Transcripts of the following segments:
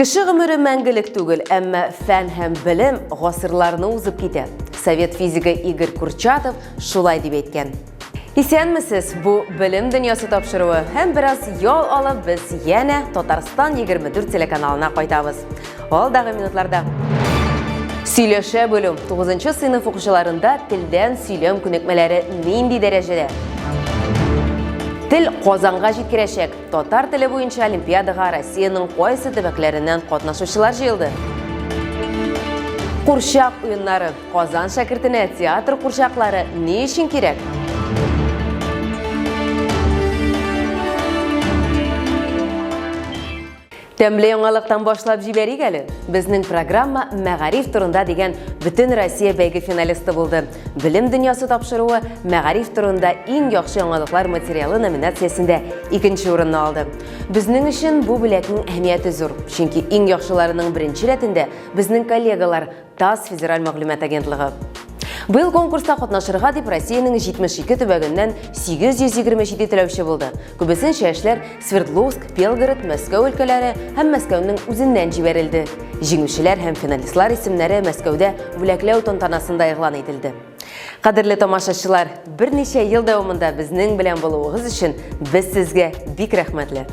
Кеше гомере мәңгелек түгел, әмма фән һәм белем гасырларны узып китә. Совет физигы Игорь Курчатов шулай дип әйткән. Исәнмесез, бу белем дөньясы тапшыруы һәм бераз ял алып без янә Татарстан 24 телеканалына кайтабыз. Алдагы минутларда Сөйләшә белү 9 сыйныф укучыларында телдән сөйләм күнекмәләре нинди дәрәҗәдә? Тел Казанга җиткерәчәк, Татар теле буенча олимпиадага Россиянең кайсы төбәкләреннән катнашучылар җыелды? Курчак уеннары. Казан шәкертенә театр курчаклары ни өчен кирәк? Тәмле яңалыктан башлап җибәрик әле. Безнең программа Мәгариф турында дигән бөтен Россия бәйге финалисты булды. Белем дөньясы тапшыруы Мәгариф турында иң яхшы яңалыклар материалы номинациясендә икенче урынны алды. Безнең өчен бу бүләкнең әһәмияте зур, чөнки иң яхшыларының беренче рәтендә безнең коллегалар ТАСС федераль мәгълүмат агентлыгы. Быел конкурста катнашырга дип Россиянең 72 төбәгеннән 827 теләүче булды. Күбесенчә эшләр Свердловск, Белгород, Мәскәү өлкәләре һәм Мәскәүнең үзеннән җибәрелде. Җиңүчеләр һәм финалистлар исемнәре Мәскәүдә бүләкләү тантанасында игълан ителде. Кадерле тамашачылар, берничә ел дәвамында безнең белән булуыгыз өчен без сезгә бик рәхмәтле.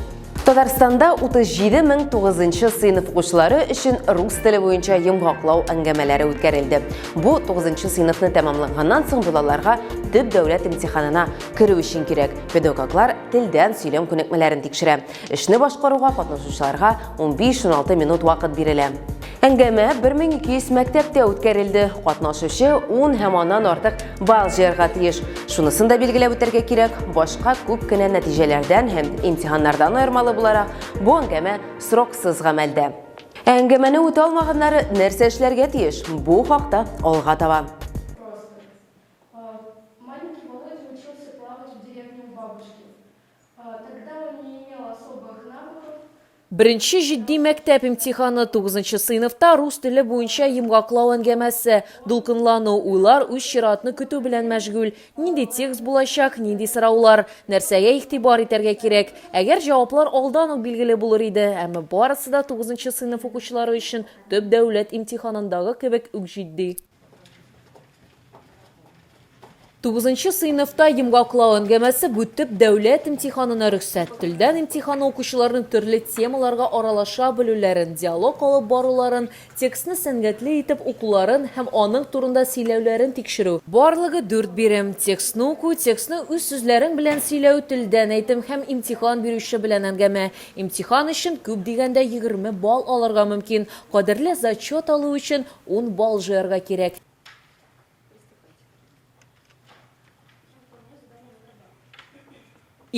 Татарстанда 37 мең 9 сыйныф укучылары өчен рус теле буенча йомгаклау әңгәмәләре үткәрелде. Бу 9 сыйныфны тәмамлаганнан соң балаларга төп дәүләт имтиханына керү өчен кирәк. Педагоглар телдән сөйләм күнекмәләрен тикшерә. Эшне башкаруга катнашучыларга 15-16 минут вакыт бирелә. Әңгәмә 1200 мәктәптә үткәрелде. Катнашучы 10 һәм аннан артык балл җыярга тиеш. Шунысын да билгеләп үтәргә кирәк, башка күп кенә нәтиҗәләрдән һәм имтиханнардан аермалы буларак, бу әңгәмә сроксыз гамәлдә. Ә әңгәмәне үтә алмаганнары нәрсә эшләргә тиеш? Бу хакта алга таба. Беренче җитди мәктәп имтиханы, тугызынчы сыйныфта рус теле буенча йомгаклау әңгәмәсе, дулкынлану, уйлар үз чиратны көтү белән мәшгуль, нинди текст булачак, нинди сораулар, нәрсәгә игътибар итәргә кирәк. Әгәр җаваплар алдан ук билгеле булыр иде, әмма барысы да тугызынчы сыйныф укучылары өчен төп дәүләт имтиханындагы кебек үк җитди. Тугызынчы сыйныфта йомгаклау әңгәмәсе бу төп дәүләт имтиханына рөхсәт. Телдән имтиханы укучыларның төрле темаларга аралаша белүләрен, диалог алып баруларын, текстны сәнгатьле итеп укуларын һәм аның турында сөйләүләрен тикшерү. Барлыгы дүрт бирем, текстны уку, текстны үз сүзләрең белән сөйләү, телдән әйтем һәм имтихан бирүче белән әңгәмә. Имтихан өчен күп дигәндә егерме балл алырга мөмкин, кадерле зачет алу өчен Ун балл җыярга кирәк.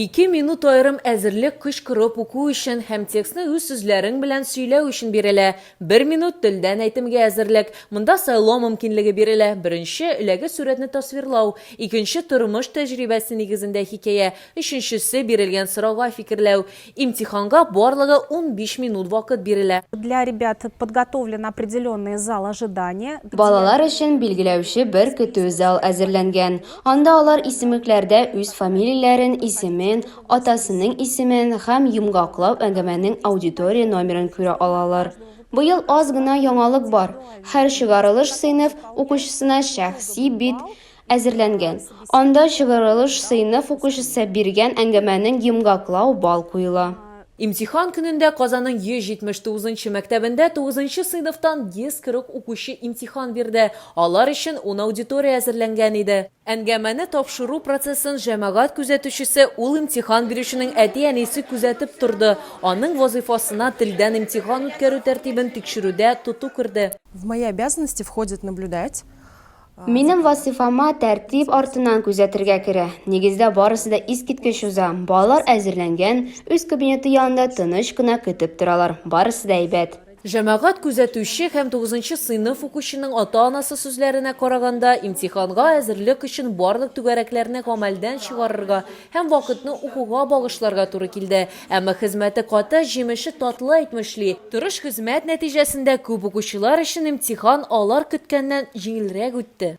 Ике минут аерым әзерлек кычкырып уку өчен һәм текстны үз сүзләрең белән сөйләү өчен бирелә. Бер минут телдән әйтемгә әзерлек. Монда сайлау мөмкинлеге бирелә, беренче, эләге сурәтне тасвирлау, икенче, тормыш тәҗрибәсе нигезендә хикәя, өченчесе, бирелгән сорауга фикерләү. Имтиханга барлыгы унбиш минут вакыт бирелә. Для ребят подготовлен определенный зал ожидания. Балалар өчен билгеләүче бер көтү зал әзерләнгән. Анда алар исемекләрдә үз фамилияләрен, исемен, атасының исемен һәм йомгаклау әңгәмәнең аудитория номерын күрә алалар. Быел аз гына яңалык бар, һәр чыгарылыш сыйныф укучысына шәхси бит әзерләнгән. Анда чыгарылыш сыйныф укучысы биргән әңгәмәнең йомгаклау бал куела. Имтихан көнендә Казанның 179 нчы мәктәбендә тугызынчы сыйныфтан 140 укучы имтихан бирде. Алар өчен ун аудитория әзерләнгән иде. Әңгәмәне тапшыру процессын җәмәгать күзәтүчесе, ул имтихан бирүченең әти-әнисе күзәтеп торды. Аның вазыйфасына телдән имтихан үткәрү тәртибен тикшерүдә тоту керде. В мои обязанности входит наблюдать Минем вазифама тәртип артыннан күзәтергә керә. Нигездә барысы да искиткеч уза. Балалар әзерләнгән, үз кабинеты янында тыныч кына көтеп торалар. Барысы да әйбәт. Җәмәгать күзәтүче һәм тугызынчы сыйныф укучының ата-анасы сүзләренә караганда, имтиханга әзерлек өчен барлык түгәрәкләрне гамәлдән чыгарырга һәм вакытны укуга багышларга туры килде. Әмма хезмәте каты, җимеше татлы әйтмешли. Тырыш хезмәт нәтиҗәсендә күп укучылар өчен имтихан алар көткәннән җиңелрәк үтте.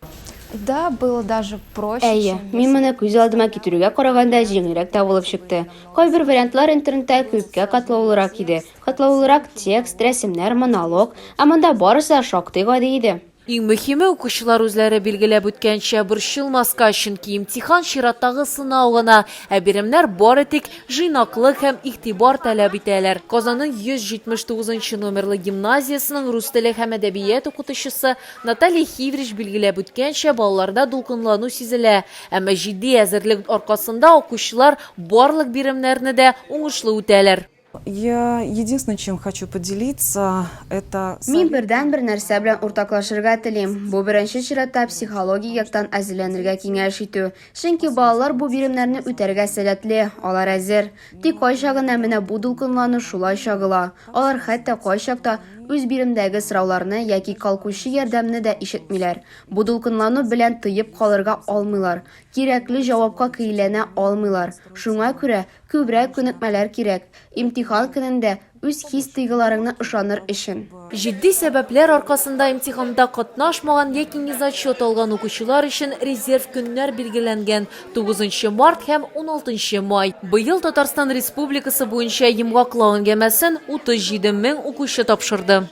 Да, было даже проще, Әйе, чем я мин себе моны күз алдыма представляла. китерүгә караганда җиңелрәк тә булып чыкты. Кайбер вариантлар интернетта күпкә катлаулырак иде. Катлаулырак текст, рәсемнәр, монолог. Ә монда барысы да шактый гади иде. Иң мөһиме, укучылар үзләре билгеләп үткәнчә, борчылмаска, чөнки имтихан чираттагы сынау гына, ә биремнәр бары тик җыйнаклык һәм игътибар таләп итәләр. Казанның 179 нчы номерлы гимназиясенең рус теле һәм әдәбият укытучысы Наталья Хиврич билгеләп үткәнчә, балаларда дулкынлану сизелә, әмма җитди әзерлек аркасында укучылар барлык биремнәрне дә уңышлы үтәләр. Я единственное, чем хочу поделиться, это Мин бердәнбер нәрсә белән уртаклашырга телим, бу беренче чиратта психологик яктан әзерләнергә киңәш итү. Чөнки балалар бу биремнәрне үтәргә сәләтле, алар әзер. Тик кайчак гына менә бу дулкынлану шулай чагыла. Алар хәтта кайчакта үз биремдәге сорауларны яки калкучы ярдәмне дә ишетмиләр. Бу дулкынлану белән тыеп калырга алмыйлар, кирәкле җавапка кииләнә алмыйлар. Шуңа күрә Күбрәк күнекмәләр кирәк, имтихан көнендә үз хис-тойгыларыңны ышаныр өчен. Җитди сәбәпләр аркасында имтиханда катнашмаган яки незачет алган укучылар өчен резерв көннәр билгеләнгән, тугызынчы март һәм уналтынчы май. Быел Татарстан Республикасы буенча йомгаклау әңгәмәсен 37 мең укучы тапшырды.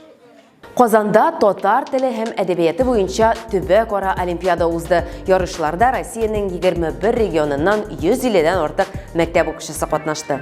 Казанда татар теле һәм әдәбияты буенча төбәк-ара олимпиада узды. Ярышларда Россиянең 21 регионыннан 150-дән артык мәктәп укучысы катнашты.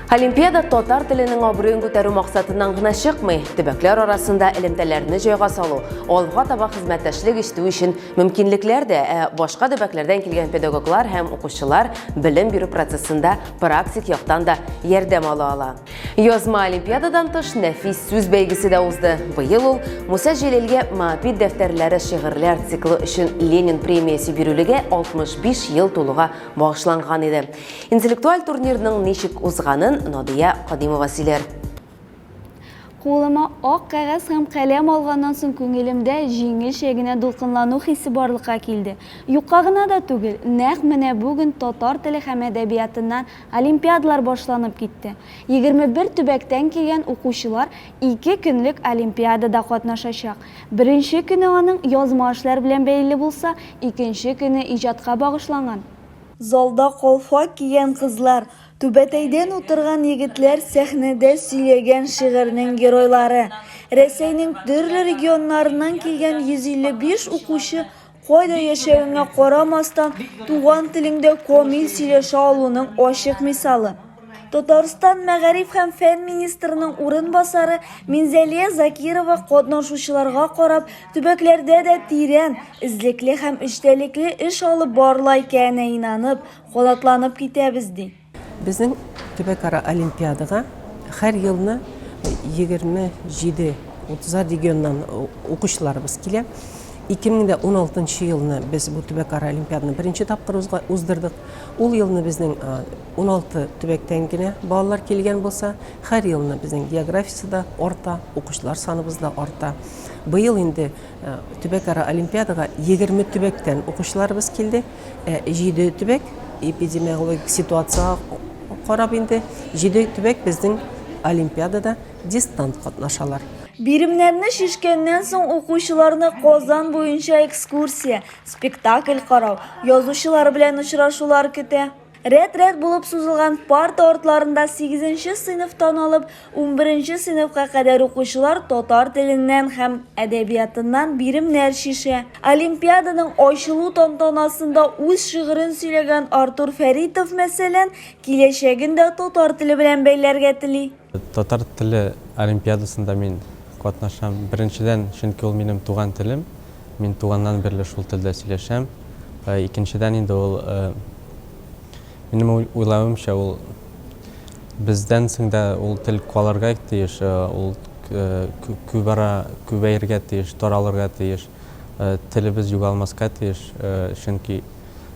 Олимпиада татар теленең абруен күтәрү максатыннан гына чыкмый, төбәкләр арасында элемтәләрне җайга салу, алга таба хезмәттәшлек итү өчен мөмкинлекләр дә, ә башка төбәкләрдән килгән педагоглар һәм укучылар белем бирү процессында практик яктан да ярдәм ала ала. Язма олимпиададан тыш нәфис сүз бәйгесе дә узды. Быел ул Муса Җәлилгә Маапит дәфтәрләре шигырьләр циклы өчен Ленин премиясе бирүлегә 65 ел тулуга багышланган иде. Интеллектуаль турнирның ничек узганын Надия Кадимова сөйләр. Кулыма ак кәгазь һәм каләм алганнан соң күңелемдә җиңелчә генә дулкынлану хисе барлыкка килде. Юкка гына да түгел, нәкъ менә бүген татар теле һәм әдәбиятыннан Олимпиадалар башланып китте. Егерме бер төбәктән килгән укучылар ике көнлек олимпиадада катнашачак. Беренче көне аның язма эшләр белән бәйле булса, икенче көне иҗатка багышланган. Залда калфак кигән кызлар, түбәтәйдән утырган егетләр сәхнәдә сөйләгән шигырьнең геройлары. Рәсәйнең төрле регионнарыннан килгән 155 укучы Кайда яшәвеңә карамастан, туган телеңдә камил сөйләшә алуның ачык мисалы. Татарстан мәгариф һәм фән министрының урынбасары Минзәлия Закирова катнашучыларга карап, төбәкләрдә дә тирән, эзлекле һәм эчтәлекле эш алып барыла икәненә инанып, канатланып китәбез, ди. Безнең төбәкара олимпиадага һәр елны 27-30 регионнан укучыларыбыз килә. 2016 елны без бу төбәкара олимпиаданы беренче тапкыр уздырдык. Ул елны безнең 16 төбәктән генә балалар килгән булса, һәр елны безнең географиясе дә арта, укучылар саныбыз да арта. Быел инде төбәкара олимпиадага 20 төбәктән укучыларыбыз килде. Ә җиде төбәк эпидемиологик ситуацияга карап инде җиде төбәк безнең олимпиадада дистант катнашалар. Биремнәрне чишкәннән соң укучыларны Казан буенча экскурсия, спектакль карау, язучылар белән очрашулар көтә. Рәт-рәт булып сузылган парта артларында сигезенче сыйныфтан алып унберенче сыйныфка кадәр укучылар татар теленнән һәм әдәбиятыннан биремнәр чишә. Олимпиаданың ачылу тантанасында үз шигырен сөйләгән Артур Фәритов, мәсәлән, киләчәген дә татар теле белән бәйләргә тели. Татар теле олимпиадасында мин катнашам. Беренчедән, чөнки ул минем туган телем. Мин туганнан бирле шул телдә сөйләшәм. Икенчедән инде ул, минем уйлавымча, ул бездән соң да ул тел калырга тиеш, ул күбара, күбәергә тиеш, таралырга тиеш. Телебез югалмаска тиеш, чөнки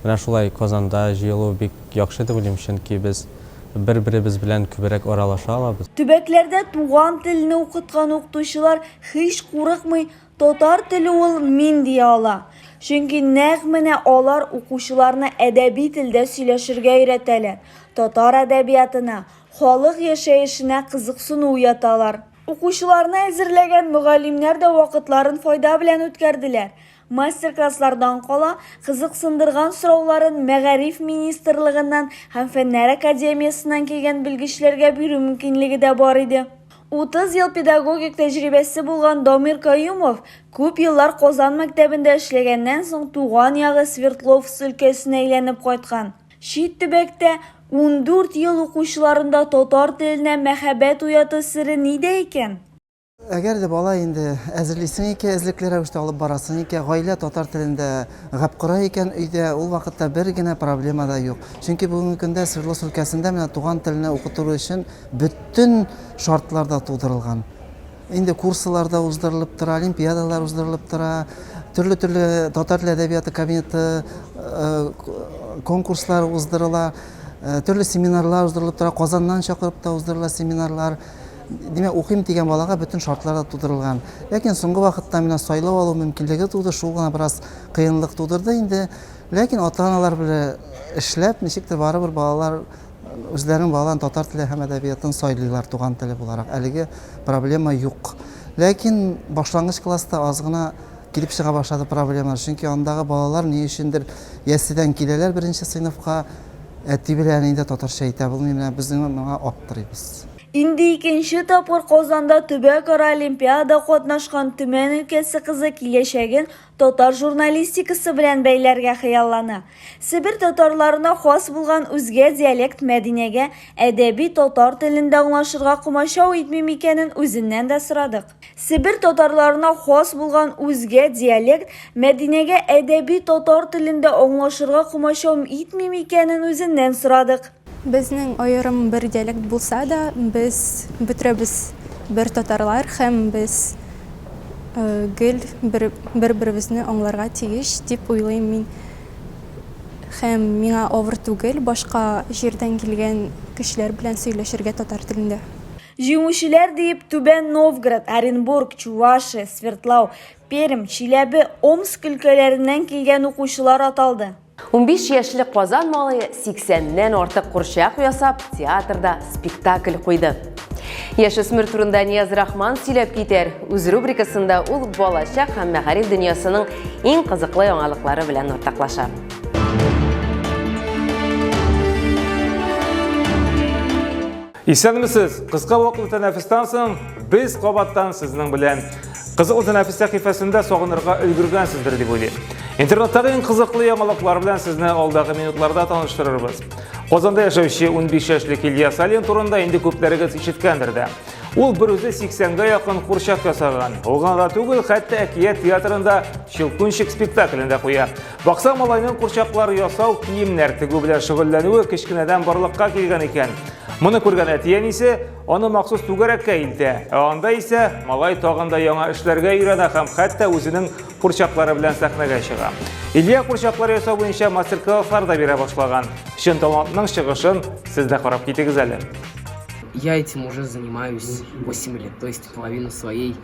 Менә шулай Казанда җыелу бик яхшы дип уйлыйм, чөнки без бер-беребез белән күбрәк аралаша алабыз. Төбәкләрдә туган телне укыткан укытучылар һич курыкмый татар теле ул мин дия ала. Чөнки нәкъ менә алар укучыларны әдәби телдә сөйләшергә өйрәтәләр, татар әдәбиятына, халык яшәешенә кызыксыну уяталар. Укучыларны әзерләгән мөгаллимнәр дә вакытларын файда белән үткәрделәр. Мастер-класслардан кала, кызыксындырган сорауларын Мәгариф министрлыгыннан һәм Фәннәр академиясеннән килгән белгечләргә бирү мөмкинлеге дә бар иде. 30 ел педагогик тәҗрибәсе булган Дамир Каюмов күп еллар Казан мәктәбендә эшләгәннән соң туган ягы Свердловск өлкәсенә әйләнеп кайткан. Чит төбәктә ундүрт ел укучыларында татар теленә мәхәббәт уяту сере нидә икән? Әгәр дә бала инде әзерлисең икән, эзлекле рәвештә алып барасың икән, гаилә татар телендә гап кора икән өйдә, ул вакытта бер генә проблема да юк. Чөнки бүгенге көндә Свердловск өлкәсендә менә туган телне укытыру өчен бөтен шартлар да тудырылган. Инде курслар да уздырылып тора, олимпиадалар уздырылып тора, төрле-төрле татар теле әдәбияты кабинеты э, конкурслар уздырыла, э, төрле семинарлар уздырылып тора, Казаннан чакырып та уздырыла семинарлар. Димәк, укыйм дигән балага бөтен шартлар да тудырылган. Ләкин соңгы вакытта менә сайлау алу мөмкинлеге туды, шул гына бераз кыенлык тудырды инде. Ләкин ата-аналар белә эшләп, ничектер барыбер балалар үзләренең балаларын татар теле һәм әдәбиятын сайлыйлар туган теле буларак. Әлеге проблема юк. Ләкин башлангыч класста аз гына килеп чыга башлады проблемалар. Чөнки андагы балалар ни өчендер ясьсидән киләләр беренче сыйныфка, әти белән әни дә татарча әйтә белми, менә без моңа аптырыйбыз. Инде икенче тапкыр Казанда төбәкара олимпиада катнашкан Төмән өлкәсе кызы киләчәген татар журналистикасы белән бәйләргә хыяллана. Себер татарларына хас булган үзгә диалект Мәдинәгә әдәби татар телендә аңлашырга комачау итми микәнен үзеннән дә сорадык. Себер татарларына хас булган үзгә диалект Мәдинәгә әдәби татар телендә аңлашырга комачау итми микәнен үзеннән сорадык. Безнең аерым бер диалект булса да, без бөтрәбез бер татарлар һәм без гел бер-беребезне аңларга тиеш дип уйлыйм мин. Һәм миңа авыр түгел башка җирдән килгән кешеләр белән сөйләшергә татар телендә. Җиңүчеләр диеп Түбән Новгород, Оренбург, Чувашия, Свердлау, Пермь, Чиләбе, Омск өлкәләреннән килгән укучылар аталды. Унбиш яшьлек Казан малае сиксәннән артык курчак ясап, театрда спектакль куйды. Яшүсмер турында Нияз Рахман сөйләп китәр. Үз рубрикасында ул балачак һәм мәгариф дөньясының иң кызыклы яңалыклары белән уртаклаша. Исәнмесез! Кыска вакытлы тәнәфестән соң без кабаттан сезнең белән. Кызыклы тәнәфес сәхифәсендә сагынырга өлгергәнсездер дип уйлыйм. Интернеттагы иң кызыклы яңалыклар белән сезне алдагы минутларда таныштырырбыз. Казанда яшәүче 15 яшьлек Илья Салин турында инде күпләрегез ишеткәндер дә. Ул бер үзе 80-гә якын курчак ясаган. Ул гына да түгел, хәтта әкият театрында Щелкунчик спектаклен дә куя. Бакса малайның курчаклар ясау, киемнәр тегү белән шөгыльләнүе кечкенәдән барлыкка килгән икән. Моны күргән әти-әнисе аны махсус түгәрәккә илтә. Ә анда исә малай тагын да яңа эшләргә өйрәнә һәм хәтта үзенең курчаклары белән сәхнәгә чыга. Илья курчаклар ясау буенча мастер-класслар да бирә башлаган. Чын талантның чыгышын сез дә карап китегез әле. Я этим уже занимаюсь 8 лет, то есть половину своей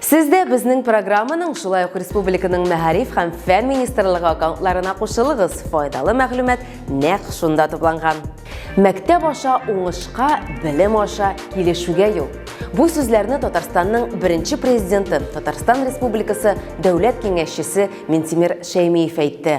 Сез дә безнең программаның шулай ук республиканың мәгариф һәм фән министрлыгы аккаунтларына кушылыгыз. Файдалы мәгълүмат нәкъ шунда тупланган. Мәктәп аша уңышка, белем аша килешүгә юл. Бу сүзләрне Татарстанның беренче президенты, Татарстан Республикасы Дәүләт киңәшчесе Минтимер Шәймиев әйтте.